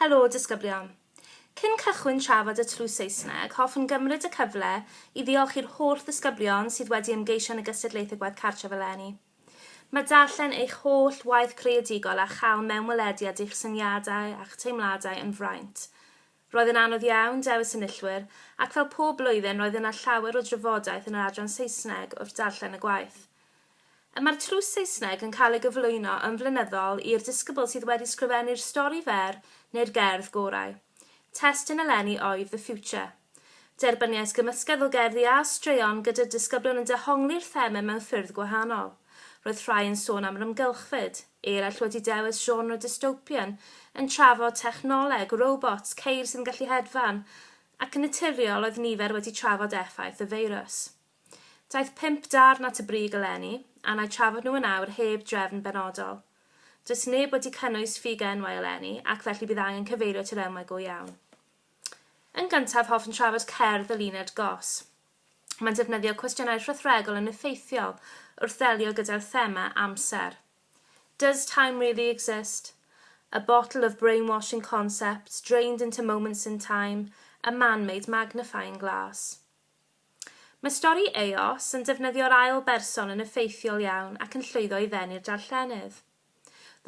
Helo, disgyblion. Cyn cychwyn trafod y tlws Saesneg, hoffwn gymryd y cyfle i ddiolch i'r holl ddisgyblion sydd wedi ymgeisio yn y gystadlaethau gwaith cartref eleni. Mae darllen eich holl waith creadigol a chael mewnwelediad at eich syniadau a'ch teimladau yn fraint. Roedd yn anodd iawn dewis enillwyr, ac fel pob blwyddyn roedd yna llawer o drafodaeth yn yr adran Saesneg wrth darllen y gwaith. Y mae'r trws Saesneg yn cael ei gyflwyno yn flynyddol i'r disgybl sydd wedi sgrifennu'r stori fer neu'r gerdd gorau. Testun eleni oedd The Future. Derbyniais gymysgedd o gerddi a straeon gyda disgyblion yn dehongli'r thema mewn ffyrdd gwahanol. Roedd rhai yn sôn am rymgylchfyd, eraill wedi dewis genre dystopian, yn trafod technoleg, robots, ceir sydd yn gallu hedfan, ac yn naturiol oedd nifer wedi trafod effaith y feirws. Daeth pump darn at y brig eleni, a na i trafod nhw yn awr heb drefn benodol. Does neb wedi cynnwys ffug enwau eleni, ac felly bydd angen cyfeirio at yr enwau go iawn. Yn gyntaf, hoffwn trafod cerdd y linell gos. Mae'n defnyddio cwestiynau rhythregol yn effeithiol wrth ddelio gyda'r thema amser. Does time really exist? A bottle of brainwashing concepts drained into moments in time, a man-made magnifying glass. Mae stori Eos yn defnyddio'r ail berson yn effeithiol iawn ac yn llwyddo i ddenu'r darllenydd.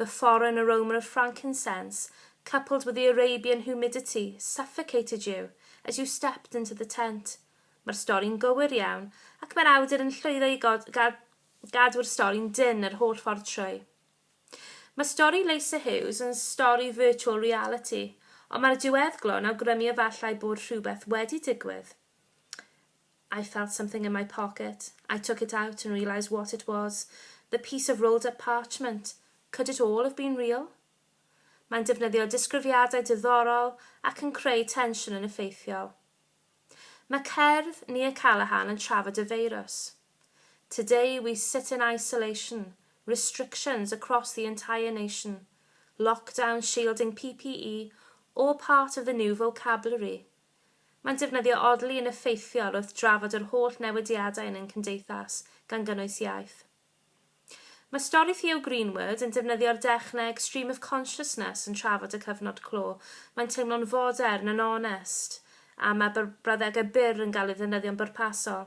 The foreign aroma of frankincense, coupled with the Arabian humidity, suffocated you as you stepped into the tent. Mae'r stori'n gywir iawn, ac mae'r awdur yn llwyddo i god, ga, gadw'r stori'n dynn yr holl ffordd trwy. Mae stori Leysa Hughes yn stori virtual reality, ond mae'r diweddglo yn awgrymu efallai bod rhywbeth wedi digwydd. I felt something in my pocket. I took it out and realised what it was. The piece of rolled up parchment. Could it all have been real? Mae'n defnyddio disgrifiadau diddorol ac yn creu tensiwn yn effeithiol. Mae cerdd Nia Callaghan yn trafod y feirws. Today we sit in isolation, restrictions across the entire nation, lockdown shielding PPE, all part of the new vocabulary. Mae'n defnyddio odli yn effeithiol wrth drafod yr holl newidiadau yn ein cymdeithas, gan gynnwys iaith. Mae stori Theo Greenwood yn defnyddio'r dechneg stream of consciousness yn trafod y cyfnod clo, mae'n teimlo'n fodern, yn onest, a mae brawddegau byr yn cael eu defnyddio'n bwrpasol.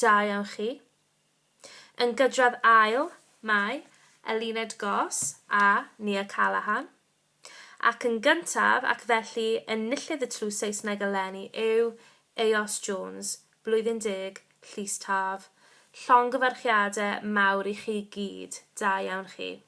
Da iawn chi. Yn gydradd ail, mae, Eluned Goss a Nia Callaghan. Ac yn gyntaf, ac felly enillydd y tlws Saesneg eleni yw Eos Jones, Blwyddyn Deg, Llys Taf. Llongyfarchiade mawr i chi gyd. Da iawn chi.